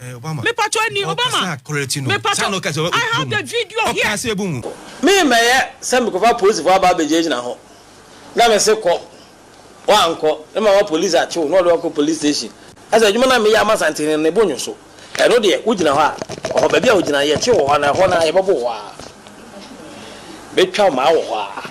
Eh, Obama. Me pacho ni Obama. Okasa quality no. Me pacho. Sano kasa. I have the video here. Okasa ebu mu. Me me yɛ sɛ me kɔfa polisi fo aba abɛgyina gyina ho na me se kɔ wankɔ ne ma ma polisi akye wo na ɔde wakɔ police station ɛsɛ adwuma na me yɛ ama santene ne bo nyoso ɛno deɛ wo gyina hɔ a ɔhɔ baabi a wo gyina yɛkye wo hɔ na ɛhɔ na yɛbɛbo hɔ a bɛtwa maa wɔ hɔ a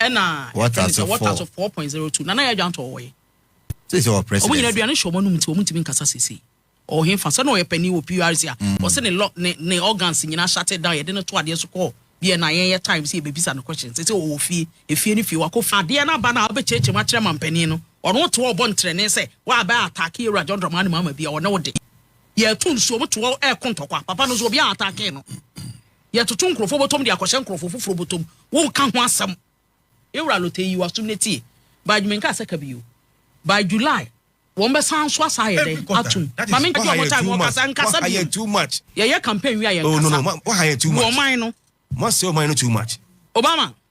ɛna ɛfɛ sɛ wɔta so four point zero two nana yɛ adwa ntɔ wɔyɛ sisi wɔ president wɔn nyinaa aduane hyɛ wɔn anum ti wɔn ntumi nkasa sisi ɔhen fa sɛ na ɔyɛ panyin wɔ prc a mm. ɔsɛ ne lɔ ne ne organs nyinaa shate down yɛde ne to adeɛ so kɔɔ bia na yɛn yɛ time sɛ yɛbɛbisa no question sɛ sɛ ɔwɔ fie efie ne fie wakɔ fie adeɛ no aba no a wobɛkyerɛkyerɛ mu akyerɛ mampanin no ɔno te ɔbɔ ntrɛne sɛ woabɛ atake awura john drama ne maama bi a ɔne wo de yɛto nsuo mo toɔ ɛko ntɔkwa papa no so obi a atake no Yɛtoto nkurɔfoɔ bɔtɔm de akɔhyɛ nkurɔfoɔ foforɔ bɔtɔm, wonka ho asɛm. Ewura Lotey yi w'asom na tie, by menka asɛka bi o, by July wɔn bɛsan nso asan ayɛ dɛn atom, ma me ngye wɔn time wɔkasa nkasa biom, yɛyɛ campaign wie a yɛnkasa, wɔ ɔman no. Obama.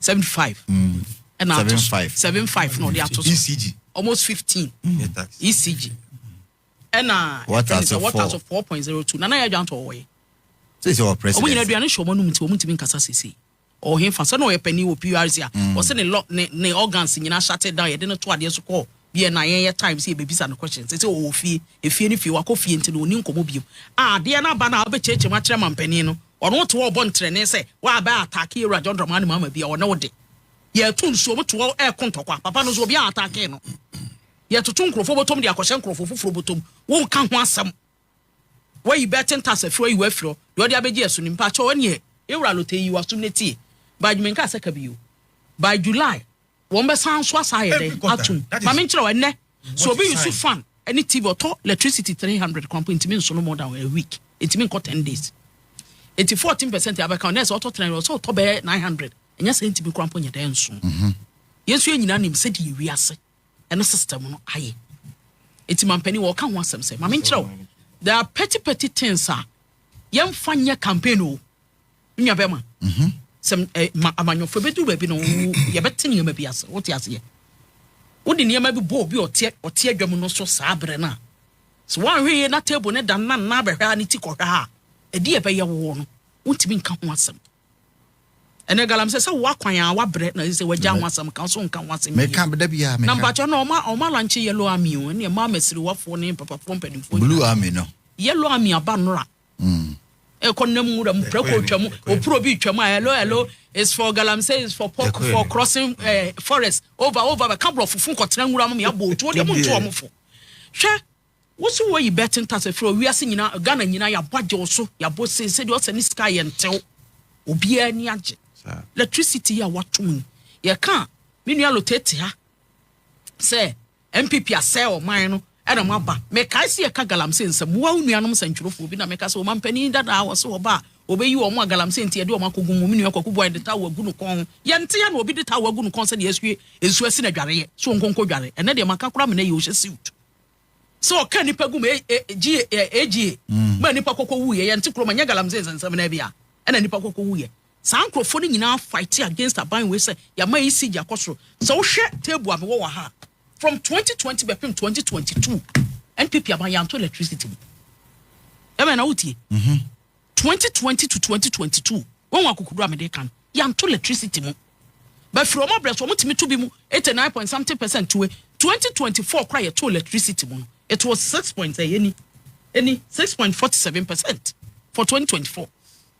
seventy five ɛna ato so seven five na ɔde ato so ecg almost fifteen ecg ɛna water so four water so four point zero two nana yɛ adwantɔ ɔwɔ yɛ sisi wɔ president ɔmo nyina aduane hyɛ ɔmo anum ti ɔmo ntumi nkasa sisi ɔhen fa sɛ na ɔyɛ panyin wɔ prc a ɔsɛ ne lɔ ne ne organs nyina ahyate down yɛde no to adeɛ so kɔɔ. Deɛ na yɛn yɛ time sɛ yɛbɛbisa no questions. Sɛsɛ ɔwɔ fie, efie ne fie, wakɔ fie nti no ɔnni nkɔmmɔ biom. A adeɛ no aba no a wobɛkyerɛkyerɛ mu akyerɛ mampanin no, ɔno wote hɔ ɔbɔ ntrɛnee sɛ woabɛ attack Ewura John Dramani Mahama bi a ɔne wo de. Yɛto nsuo, wote hɔ ɛreko ntɔkwa. Papa no nso obiara attackee no. Yɛtoto nkurɔfoɔ bɔtɔm de akɔhyɛ nkurɔfoɔ foforɔ bɔtɔm. Wonka ho asɛm. Woayi bɛɛte ntase afiri hɔ, ayi w'afiri hɔ, deɛ ɔde abɛgye ɛso ni. Mpakyɛw ɛneɛ Ewura Lotee yi w'asom no tie. By June menkaa sɛ ka bio. By July Wɔn bɛsan nso asan ayɛ dɛn atum. Ma me nkyerɛ wo ɛnɛ so obi use fan ɛne TV ɔtɔ electricity three hundred kwan po ntumi nso no more than a week ntumi nkɔ ten days eti fourteen percent abɛka ɔnɛ sɛ ɔtɔ three ɔsɛ ɔtɔ bɛyɛ nine hundred ɛnyɛ sɛ ntumi kwan po nyɛ dɛn nso mhm. yɛn nso yɛn nyinaa nim sɛ deɛ ewi ase ɛne system no ayɛ eti mampanin wɔka ho asɛm sɛ maame nkyerɛw there are petty petty things a yɛn fa nyɛ campaign o Nua bɛma. Mhm. Sɛ eh, ma amanyɔfo bɛduru baabi no yɛbɛte nneɛma bi ase wote aseɛ wode nneɛma bi bɔ obi ɔteɛ ɔteɛ dwam no so saa berɛ no a sɛ woanhwɛ yie na table no da no na nna bɛhwɛ a ne ti kɔhwɛ a ɛde ɛbɛyɛ woɔ no wontumi nka ho asɛm ɛnɛ galam sɛ sɛ woakwan a woabrɛ na sɛ wagya ho asɛm ka so nka ho asɛm meka da biaa meka na mpakyɛ no ɔma ɔma lanche yellow army o ɛne ɛma masiriwafoɔ ne papafoɔ mpanimfoɔ blue army no yellow army aba nnora Mm. ɛkɔ nam nwura mu prɛko otwa mu opuro bi twa mu a hello hello is for galamsey is for pork for crossing eh, forest over over bɛka borɔfo fo nkɔtena nwura mu yɛabɔ otuo deɛ monto ɔmo fo hwɛ woso wɔ yi bɛten tase frɛ owiase nyina ghana nyina yɛabɔ agye wo so yɛabɔ sei sɛdeɛ ɔsɛ ne sika yɛ ntew obiara ni agye electricity yi a watom yi yɛka me nua lotetea sɛ NPP asɛe ɔman no na mo aba. Mekae se yɛka galamsey nsɛm. Moa wo nuanom sɛnkyerɛfoɔ bi na meka se ɔmanpanin dada a wɔse wɔba a wɔbɛyi wɔn a galamsey nti yɛde wɔn akɔgu mu. Me nua Kwaku Boae de towel agu no kɔn ho. Yɛnte yɛ na obi de towel agu no kɔn sɛdeɛ yɛsue nsuo asi no adwareɛ se ɔnkɔ nkɔ dware. Ɛnnɛ deɛ maka koraa menɛ yɛ ɔhyɛ suit se ɔka nnipa gu mu AGA ma nnipa kɔkɔ wuiɛ. Yɛnte kurom ɛnyɛ galamsey nsɛnsɛm naa bi a ɛna nnipa kɔkɔ wuiɛ. Saa nkurɔfoɔ no nyinaa fighte against aban wei sɛ yɛama ECG akɔ soro. Sɛ wohwɛ table a mewɔ wɔ ha a, from 2020 bɛpem 2022 NPP aban yɛanto electricity bi. Ɛmɛ na wotie. 2020 to 2022 wɔn akokoduro a mede ka no yɛanto electricity mu. Bɛfiri wɔn abrɛ so wɔn tumi to bi mu 89 point something percent to 2024 kora yɛto electricity mu no it was 6 point ɛyɛ ni ɛni 6.47 percent for 2024.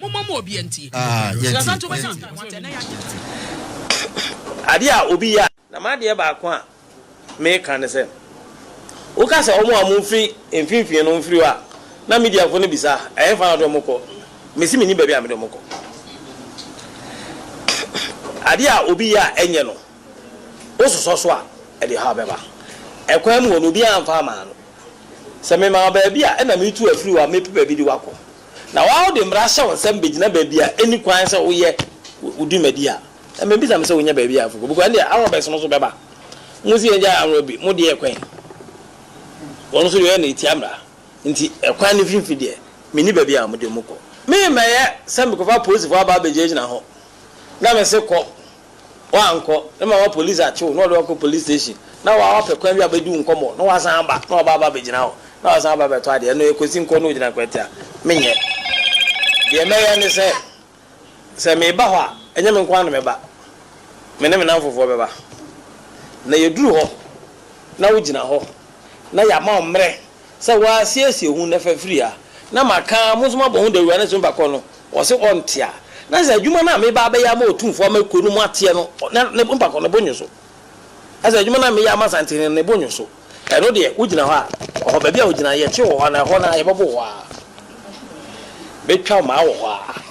Mommɔ ma obiara ntie. Ah, yɛntie, Srasa nti wobɛhyɛ yɛntie. ntae wate, ɛnɛ yɛagye nti. Adeɛ a obi yɛ a. Na m'adeɛ baako a meka ne sɛ, woka sɛ wɔn a wɔfiri mfimfini no mfiri hɔ a, na Midianfoɔ no bisa, Ɛhefa na wɔde wɔn kɔ? Mese mennim baabi a mede wɔn kɔ. Adeɛ a obi yɛ a ɛnyɛ no, wososɔ so a, ɛde haw bɛba. Ɛkwan mu hɔ no, obiara mfa mmaa no. Sɛ memaa wo baabi a, ɛnna meretu afiri hɔ a, mɛpɛ baabi de wo akɔ. na woaa wode mmara ahyɛ wo nsam bɛgyina baabi a ɛnni kwan sɛ woyɛ wo dwumadi a, mɛbisa me sɛ wonya baabi a afokɔ bɛkɔ, ɛnneɛ Arabs no nso bɛba. Mo se yɛngyae Arab bi, mo deɛ ɛkwan? Wɔn nso deɛ wɔyɛ no ɛtia mmara. Nti ɛkwan no mfimfini deɛ, menni baabi a mode mo kɔ. Me mmɛyɛ sɛ mekɔfa apolisifoɔ aba abɛgyinagyina hɔ na mese kɔ Woankɔ, ne mama polisi akye wo na wɔde wo akɔ polisi station na woapɛ kwan bi abɛdi wo nkɔmmɔ na woasan aba na wɔaba aba abɛgyina hɔ na woasan aba abɛtɔ adeɛ. Ɛno yɛ Kwesi Nkoa na ɔgyina Nkwatia. Menyɛ. Deɛ mɛyɛ ne sɛ, sɛ meba hɔ a, ɛnyɛ me nko ara na mɛba. Me ne me nnamfofoɔ bɛba. Na yɛduru hɔ na wogyina hɔ na yɛama wo mmerɛ. Sɛ wɔasiesie ho nnɛ fafiri ha, na maka ara, mo nso moabɔ ho dawuru anadwo bakɔ no, ɔse ɔnte a, na sɛ adwuma no a meba abɛyɛ ama Otumfoɔ ama kuo no mu ateɛ no, na ne bo bakɔ, ne bo nnwo so. Na sɛ adwuma no a meyɛ ama Asantehene no, ne bo nnwo so, ɛno deɛ, wogyina hɔ a, ɔhɔ, baabi a wogyina no, yɛte wɔ hɔ anaa ɛhɔ no ara, yɛbɛbo wo hɔ ara. Mɛtwa wo maa wɔ hɔ ara.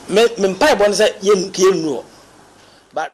Me, me mpaebɔ ne sɛ yɛn, yɛnnuru hɔ. But.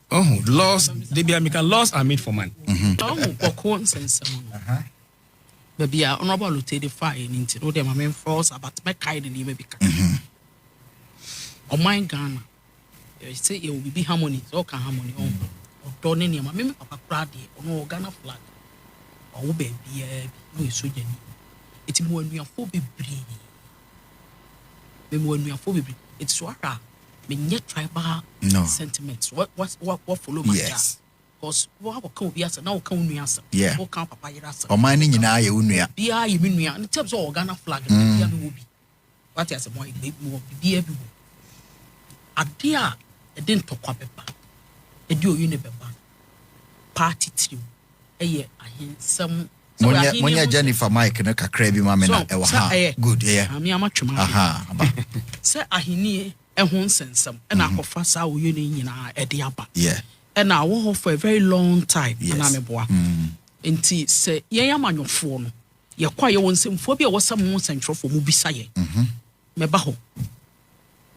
Ɔho, laws, de bia mika laws are made for man. Ɔho, kɔkɔ nsɛnsɛm no. Baabi a Honorable Alute de fa yɛ ne nti no, deɛ ma memfa wo saa, but mɛkae ne nneɛma bi kakra. Ɔman Ghana, yɛsɛ yɛwɔ biribi harmony, sɛ ɔka harmony, ɔho, ɔdɔ ne nneɛma. Me me papa koraa deɛ, ɔno ɔwɔ Ghana flag. Ɔwo baabiaa bi, na ɔyɛ sogyani. Ɛti mewɔ anuafoɔ bebree. Mewɔ anuafoɔ bebree. Ɛti so ahwɛ a, menyɛ tribal no. sentiments wa wa wa wa follow my yes. jazz cause wa wa ka obi asɛm na wɔka wo nua asɛm yeah. wɔka papa yere asɛm ɔman ne nyinaa yɛ wo nua biara yɛ me nua ne tɛm sɛ ɔwɔ Ghana flag no mm. bia me wɔ bi wate asɛm ayɛ me wɔ bibia bi wɔ ade a ɛde ntɔkwa bɛba ɛde oyi ne bɛba party tirim ɛyɛ ahensɛm Monyɛ monyɛ Jennifer mic no kakra bi ma me na ɛwɔ ha. Good ɛyɛ. Maame ama twem ahwɛ. Aha aba. Sɛ ahennie ɛho nsɛnsɛm ɛna mhm. akɔfa saa oyo no nyinaa ɛde aba. Yeah. Ɛna awɔ hɔ for a very long time. Yes. Ɛna meboa. Mm. Nti sɛ yɛn amanyɔfoɔ no yɛkɔ a yɛwɔ nsɛmfoɔ bi a ɛwɔ sɛ mo nsɛntwerɛfoɔ mo bisa yɛn. Mhm. Mɛba hɔ.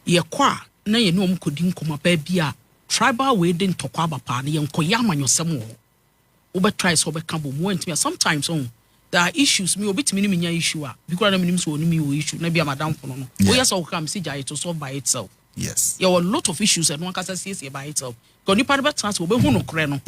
Yɛkɔ a na yɛne wɔn kɔdi nkɔmɔ baabi a tribal wei de ntɔkwa aba paa no yɛnkɔyɛ amanyɔsɛm wɔ hɔ. Wobɛ try sɛ wobɛ ka bom woantumi a sometimes oh there are issues me obi tumi ne me nya issue a bi kora na menim sɛ ɔne me wɔ issue na bi a madamfo no no woyɛ sɛ wokra me sɛ gya it will solve by itself yes yɛ wɔ lot of issues ɛno ankasa siesie by itself ka nipa no bɛtena sɛ wɔbɛhu no korɛ no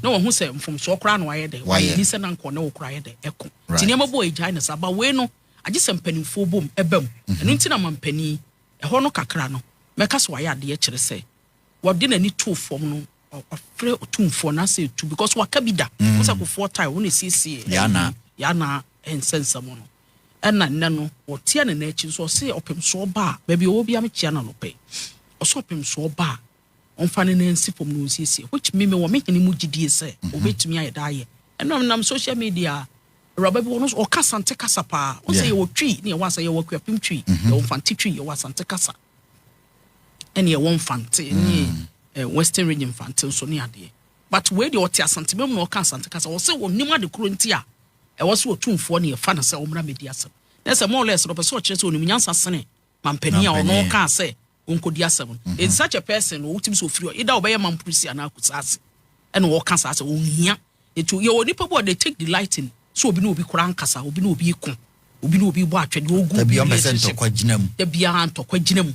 na wɔhu sɛ mfomsoɔ koraa na wayɛ dɛ wayɛ ni sɛ na nkɔ ne wo koraa yɛ dɛ ɛko nti nneɛma bɔ ɛgyae no saa ba wei no agye sɛ mpanimfoɔ bom ɛbam ɛno nti na ma mpanin ɛhɔ no kakra no mɛka sɛ wayɛ adeɛ kyerɛ sɛ wɔde n'ani too fam no Wafrɛ otumfoɔ na asɛ tu because waka bi da. Mm. Wosɛ kofoɔ tae wɔn esiesie. Yana. Yana nsɛnsɛm no. Ɛna nnɛ no wɔteɛ ne n'akyi nso ɔse ɔpem so ɔba a baabi ɔwɔ bi amekyia na nɔpɛ. Ɔsɛ ɔpem so ɔba a ɔmfa ne nan nsi fam na ɔnsiesie which me me wɔ me hene mu gyidie sɛ mhm. ɔbɛtumi ayɛ da ayɛ. Ɛnam nam social media awuraba bi wɔn nso ɔka asante kasa paa. Ɔsɛ yɛwɔ twi ne yɛwɔ asa yɛwɔ akuapem twi mhm. yɛwɔ mfante twi yɛwɔ asante kasa. ɛne ɛwɔ mfante ne eh, western region mfante nso ne adeɛ but wei deɛ ɔte asantema mu na ɔka asante kasa ɔsɛ ɔnim ade koro nti a ɛwɔ sɛ ɔtumfoɔ ne ɛfa no sɛ ɔmmra mɛdi asɛm na sɛ more or less no ɔpɛ sɛ ɔkyerɛ sɛ ɔnim nyansa sene mampanin a ɔno ɔkaa sɛ ɔnkɔdi asɛm no in such a person no wotumi sɛ ɔfiri ɔ eda ɔbɛyɛ mamprisi anaa kusaase ɛna ɔka saa sɛ ɔnhia Nti yɛwɔ nnipa bi a they take delight in sɛ obi ne obi kora nkasa, obi ne obi reko, obi ne obi rebɔ atwɛdeɛ, ogu Da bi bi ɔmpɛ sɛ relationship. ntɔkwa gyina mu. Da biara ntɔkwa gyina mu.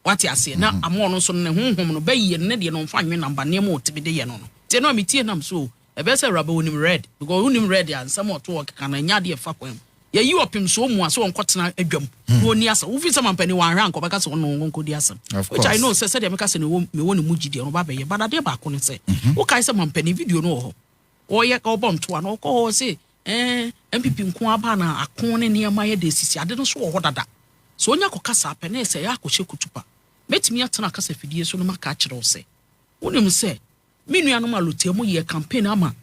Wate aseɛ? Na ama ɔno nso no ne honhom no bɛyɛ no ne deɛ no ɔmfa nwe namba nneɛma a ɔtumi de yɛ no no. Nti ɛno a metie nam so o, ɛbɛyɛ sɛ Awuraba wonim Red because wonim Red a nsɛm a ɔto hɔ keka no ɛnyɛ adeɛ a ɛfa kwan mu. Yɛyi ɔpem so wɔn mua sɛ wɔnkɔtena adwam hmm. na wɔnni asɛm. Wofi sɛ mampanin wɔanhwɛ anka ɔbɛka sɛ ɔne wɔn nkɔdi asɛm. Which I know sɛ sɛdeɛ meka sɛ mewɔ ne mu gyi deɛ no ba bɛyɛ. But adeɛ baako ne sɛ mhm. wokae sɛ mampanin video no wɔ hɔ. Ɔyɛ ɔbɔ ntoa na ɔkɔ hɔ se ɛɛ eh, MPP nko aba na ako ne nneɛma yɛ de sisi ade no so wɔ hɔ dada. So onya kɔ kasa apɛ na ɛsɛ yɛ akɔhyɛ kutupa. Mɛtumi atena kasa fidie so no maka akyerɛ wo sɛ wonim sɛ Me nuanom Alotia mu yɛɛ campaign ama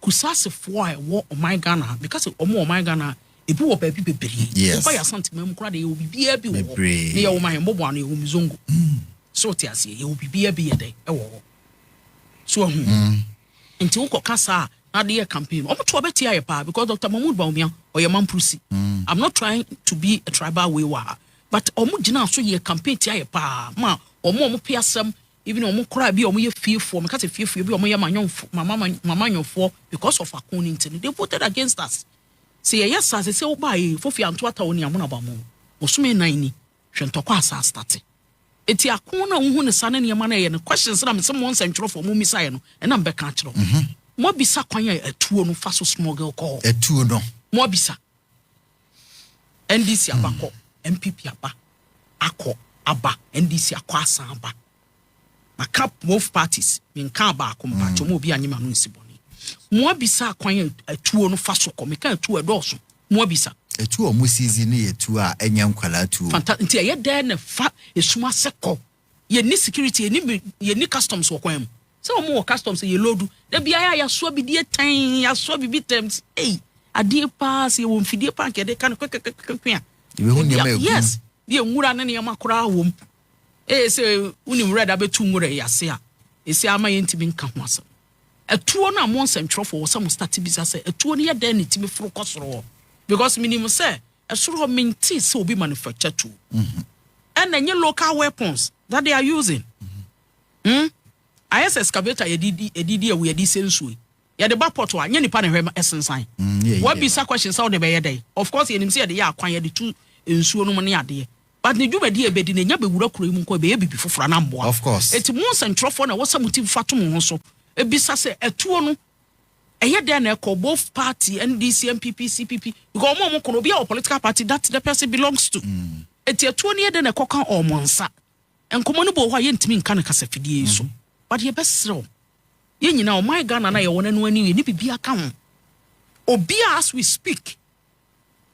Kusasefoɔ a ɛwɔ ɔman Ghana ha. Meka sɛ ɔmo wɔ ɔman Ghana a, ebi wɔ baabi bebree. Yes. Woba yɛ Asanteman mu koraa deɛ yɛwɔ biribiara bi wɔ hɔ. Bebree. Ne yɛwɔ Mahemboboa no, yɛwɔ Muzongo. So wote aseɛ? Yɛwɔ biribiara bi yɛ dɛ ɛwɔ hɔ. So ahu? Nti wokɔka saa a na ade yɛ campaign no, ɔmo to abɛtia yɛ paa because Doctor Mahmoud Bawumia ɔyɛ Mamprose. I'm not trying to be a tribal way wɔ ha but ɔmo gyinaa so yɛɛ campaign tia yɛ paa ma ɔmo a ɔmo pe asɛm Even wɔn koraa bi a wɔn yɛ fiefoɔ, meka sɛ fiefoɔ bi a wɔn yɛ manyɔnfo, mama mamanyɔfoɔ because of ako ne nti no, they voted against us. Sɛ yɛyɛ asase sɛ wobaa yɛ fofie anto atawo ne amono abamo. Bosome nnan ni, hwɛ ntɔkwa asa astate. Eti ako na wohu ne sa ne nneɛma na ɛyɛ no questions na mese mo nsɛntwerɛfoɔ mo mmisa yɛ no ɛna mbɛka akyerɛ wo. Mo abisa kwan a atuo no fa so smuggle kɔɔ. Atuo no. Mo abisa. NDC aba kɔ, NPP aba akɔ, aba NDC akɔ asan aba. Maka both parties, menkaa baako mpakyɛ mu obi anyem ano nsi bɔne. Moabisa akwan atuo no fa so kɔ, meka atuo ɛdɔɔso, moabisa. Atuo a wɔn sizi no yɛ tuo a ɛnyɛ nkwadaa tuo. Fanta nti ɛyɛ dɛn na fa esum ase kɔ. yɛnni security, yɛnni mi, yɛnni customs wɔ kwan mu. Sɛ wɔn wɔ customs yɛ loodu. Da bi ayɛ a yɛasoa bi deɛ tɛn, yɛasoa bibi tɛm. Ei, adeɛ paa sɛ yɛwɔ mfidie paa nka yɛde ka no kwɛkwɛkwɛkwɛ a. Yɛbɛhu nneɛma egu. Yes, deɛ nwura ne nneɛma koraa wɔ mu. Ee sɛ wonim nwura da bɛtu nwura yi ase a, ɛsi ama yɛntumi nka ho asɛm. Atuo no a mo nsɛntwerɛfoɔ wɔ sɛ mo start bisa sɛ atuo no yɛ dɛn na ɛtumi foro kɔ soro hɔ? Because menim sɛ Ɛsoro hɔ mentee sɛ obi manufacture tuo ɛna ɛnyɛ local weapons that they are using hmm ayɛ sɛ excavator yɛde di yɛde di awu yɛde sɛ nsuo yi yɛde ba port a nyɛ nipa na ɛhwɛ ɛsensan mm, wabisa question sɛ ɔde bɛyɛ dɛn of course yɛnim sɛ yɛde yɛ akwan yɛde tu nsuo nom ne adeɛ but ne dwumadi a ɛbɛdi no ɛnya bɛwura kuro yi mu nkɔ ɛbɛyɛ biribi foforɔ na mmoa ɛti mo nsɛntwerɛfoɔ na ɛwɔ sɛ mo ti fa to mo ho so ebisa sɛ atuo no Ɛyɛ dɛn na ɛkɔ both party NDC NPP CPP because wɔn a wɔn kɔ no obi a wɔ political party that the person belongs to. Mm. Eti atuo no yɛ dɛn na ɛkɔ ka wɔn nsa. Nkɔmɔ no bɔ hɔ a yɛntumi nka no kasafidie yi so. Mm. But yɛbɛsrɛ wɔn. Yɛn nyinaa ɔman Ghana na yɛwɔ no ɛno ani yɛ ne biribi aka ho. Obi a as we speak.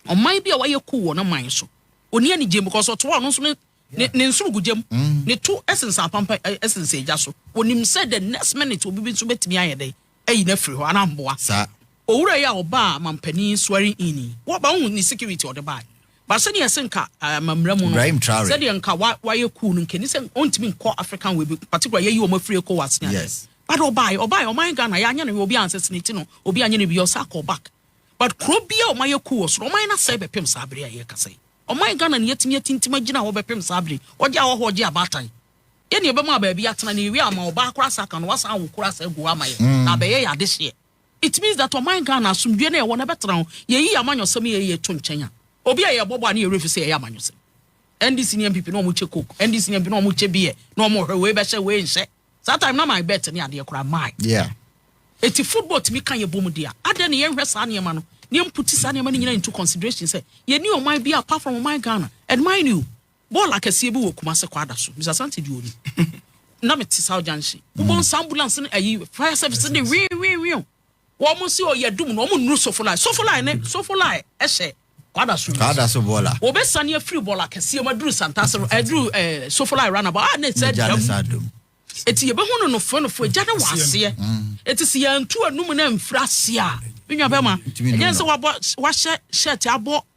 Ɔman bi a wayɛ cool wɔ n'aman so. Onni anigye mu because ɔtoa ɔno nso ne ne ne nsono gu gya mu. Mm. Ne to sensɛn apampa sensɛn egya so. Onim sɛ the next minute obi bi nso betumi ayɛ dɛ ayi no afiri hɔ anaa mboa. Saa. Owura yi a ɔbaa mampanin swearing in yi, wɔba wohu ne security ɔde baa. Ba sɛdeɛ ɛsɛ nka amammara mu no, Ibrahim Traore. Sɛdeɛ nka wa wayɛ cool no nka ni sɛ ɔntumi nkɔ African wei bi particular yɛyi wɔn afiri ECOWAS ne adeɛ. Yes. But ɔbaa ɔbaa ɔman Ghana yɛanyɛ no obi ansɛsene ti no obi anyɛ no bi ɔsa kɔ back. But kuro bi a wɔayɛ kuu wɔ so no, wɔayɛ no asɛe bɛpem saa bere a yɛrekasa yi. Ɔman Ghana na yɛatumi atintim agyina hɔ bɛpem saa bere yi. Wɔgye ahɔho, wɔgye abaatan. Yɛn na yɛbɛma baabi atena na yɛwie a wɔama ɔbaa koraa saa ka no, wɔasan awo koraa saa agu hɔ ama yɛn na abɛyɛ yɛn adehyeɛ. It means that ɔman Ghana, asomdwoeɛ no a ɛwɔ no, ɛbɛtena hɔ. Yɛyi yɛn amanyɔsɛm yi yɛyi to nkyɛn a, obi a yɛrebɔ bɔ a ne yɛn werɛ fi sɛ yɛyɛ amanyɔsɛm. NDC ne NPP na wɔkyɛ coke, NDC ne NPP na wɔkyɛ beer na wɔhwɛ wei bɛhyɛ, wei nhyɛ. Saa time na my bet ne adeɛ koraa my. Yeah. Eti football tumi ka yɛ bom di a, adɛn na yɛnhwɛ saa nneɛma no na yɛmputi saa nneɛma no nyinaa into consideration sɛ yɛni ɔman bi apart from ɔman Ghana and mind you bɔɔl akɛseɛ bi wɔ Kumase kwada so Mr. Sante di oni na mete South Junction wobɔ nsa ambulance no ayi fire service no de wee wee wee Wɔn se ɔyɛ dum no, wɔn nnuru Sofolae. Sofolae ne Sofolae hyɛ Kwada so. Kwada so bɔla. Wɔbɛsane afiri bɔla kɛseɛ mu aduru Santase no, aduru eh, Sofolae ranaba a ne sɛ dam. Eti yɛbɛhu no nofoenofo agya ne wɔ aseɛ. Eti sɛ yɛantu anum no amfiri aseɛ a, me nua bɛma, ɛnyɛ sɛ wahyɛ hyɛte abɔ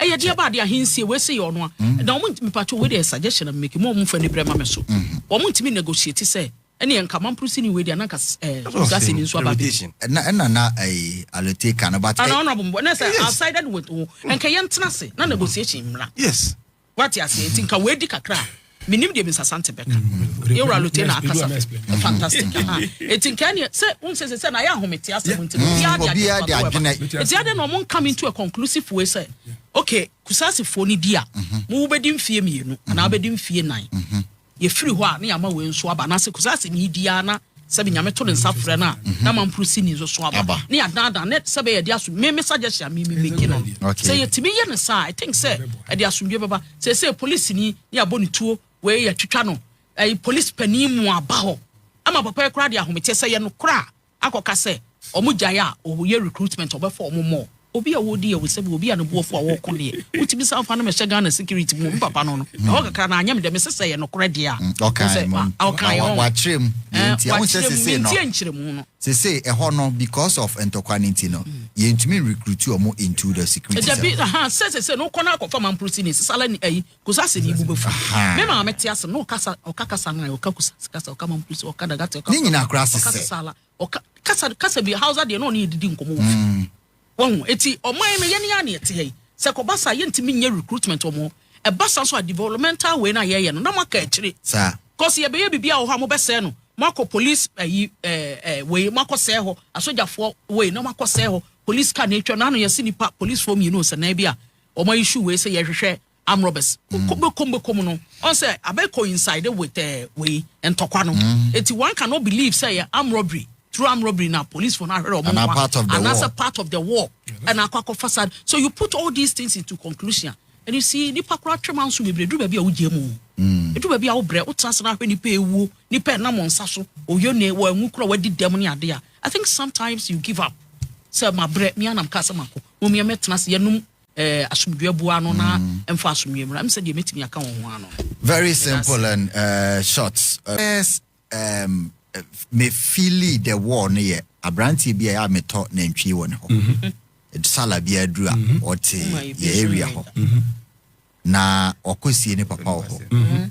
Ɛyɛ deɛ ba adeɛ ahensie wei se yɛ ɔno a mm. na wɔn mipatwo wei deɛ suggestion am making wɔn mfa ni brɛ ma me so mm-hmm. wɔn ntumi negotiate sɛ ɛne yɛn nkaman purusi ni wei deɛ ananka ɛɛ eh, gasi ni nso aba bi. ɛna ɛna na ɛyi alete kan no ba tɛ. ana ɔnabɔ mbɔ ne sɛ outside with wo nkɛyɛ ntena se na negotiation mmra. yes. Wate aseɛ? Nti nka wɔadi kakra a, menim deɛ Mister Sante bɛka. Yewura Lute na akasa fɛ. Fantastic. Aha. Nti nka ɛneɛ, sɛ, wohu sɛ sɛ sɛ na ayɛ ahomete asɛm nti no, obiara de adwene papa wɔ ɛba. Nti adɛn na wɔn come into a conclusive way sɛ, okay, Kusasefoɔ no di a, mo wobɛdi mfeɛ mmienu, anaa wobɛdi mfeɛ nnan. Yɛfiri hɔ a, na yɛama wei nso aba, anaasɛ kɔsi asɛm yi di ara na sɛbe Nyame to ne nsa frɛ no a, mhm. na mamporo sini nso so aba, ne yɛadaadaa ne sɛbe yɛde aso me me suggestion a me me meki no sɛ yɛtumi yɛ no saa, I think sɛ ɛde asomdwe bɛba sɛ sɛ polisi ni ne yɛabɔ ne tuo wei yɛtwitwa no ɛyi polisi panin mu aba hɔ ama papa yi koraa de ahometeɛ sɛ yɛ no koraa akɔka sɛ ɔmo gyae a ɔyɛ recruitment ɔbɛfa ɔmo mɔ obi a ɔɔdi yɛ wo sɛbi obi a ne boɔfo a ɔɔkɔ deɛ wotumi san fa no mɛhyɛ Ghana security mu me papa no no ɛhɔ kakra na anyɛ me dɛ mese sɛ ɛyɛ nokorɛ deɛ a wohu sɛ ma ɔkaeɛ ɔho wakyerɛm deɛ nti ahosɛ sese no mentie nkyerɛmu no sese ɛhɔ no because of ntɔkwa no nti no yɛntumi recruit ɔmo into the security dabi aha sɛ sese no wokɔ no akɔfa mamprosi ne sesala ni ayi Kusa se ne bo bɛfu. Me maame te ase na ɔkasa ɔka kasa nan ɔka kusa kasa ɔka mampusi ɔka dagate ɔka. Ne nyinaa koraa sesɛ. Ɔka sisala ɔka kasa kasa bi hausa deɛ na ɔne yɛ didi nkɔmɔ wɔ fie. Wɔn eti ɔman no yɛne yɛ aneɛ te yɛ yi sɛ kɔba saa yɛntumi nyɛ recruitment wɔn ɛba saa nso a developmental wei na yɛyɛ no na mo aka akyire. Saa. Kɔsi yɛbɛyɛ biribi a wɔ hɔ a mo bɛsɛɛ no mo akɔ police ayi ɛɛ ɛɛ wei mo akɔ sɛɛ hɔ asogyafoɔ wei na mo akɔ sɛɛ hɔ police car na atwa na ano yɛsi nipa policefoɔ mmienu nsɛnnan bi a Wɔn ayi shoe wei sɛ yɛhwehwɛ arm robbers koko bɛkɔm bɛkɔm no ɔn sɛ abɛ coincide with ɛɛ eh, wei ntɔkwa no mm. eti one cannot believe sɛ yɛ arm robbery through arm robbery na police for no ahwere ɔmo no wa anaasɛ part of the war ɛna akɔ akɔ fasad so you put all these things into conclusion and you see nipa kora twɛm anso bebree duru baabi a wogye mu mm. edu baabi a wobrɛ wotra ase n'ahwɛ nipa ewuo nipa ɛnam nsa so oyo ne wɔn anwu kora wɔadi dɛm ne ade a I think sometimes you give up sɛ ma brɛ mi anam kaa sɛ ma kɔ Mom yɛ mɛtena ase yɛnom eh, asomdwe aboa ano na ɛmfa mm. asomdwe mmra ɛm sɛ deɛ mɛtumi aka wɔn ho ano very simple and uh, short uh, first um, me feely the war no yɛ aberanteɛ bi a yɛ a metɔ nantwie wɔ ne hɔ mm-hmm. sala bi aduru a mm-hmm. ɔte yɛ area hɔ mm-hmm. na ɔkɔ sie ne papa wɔ hɔ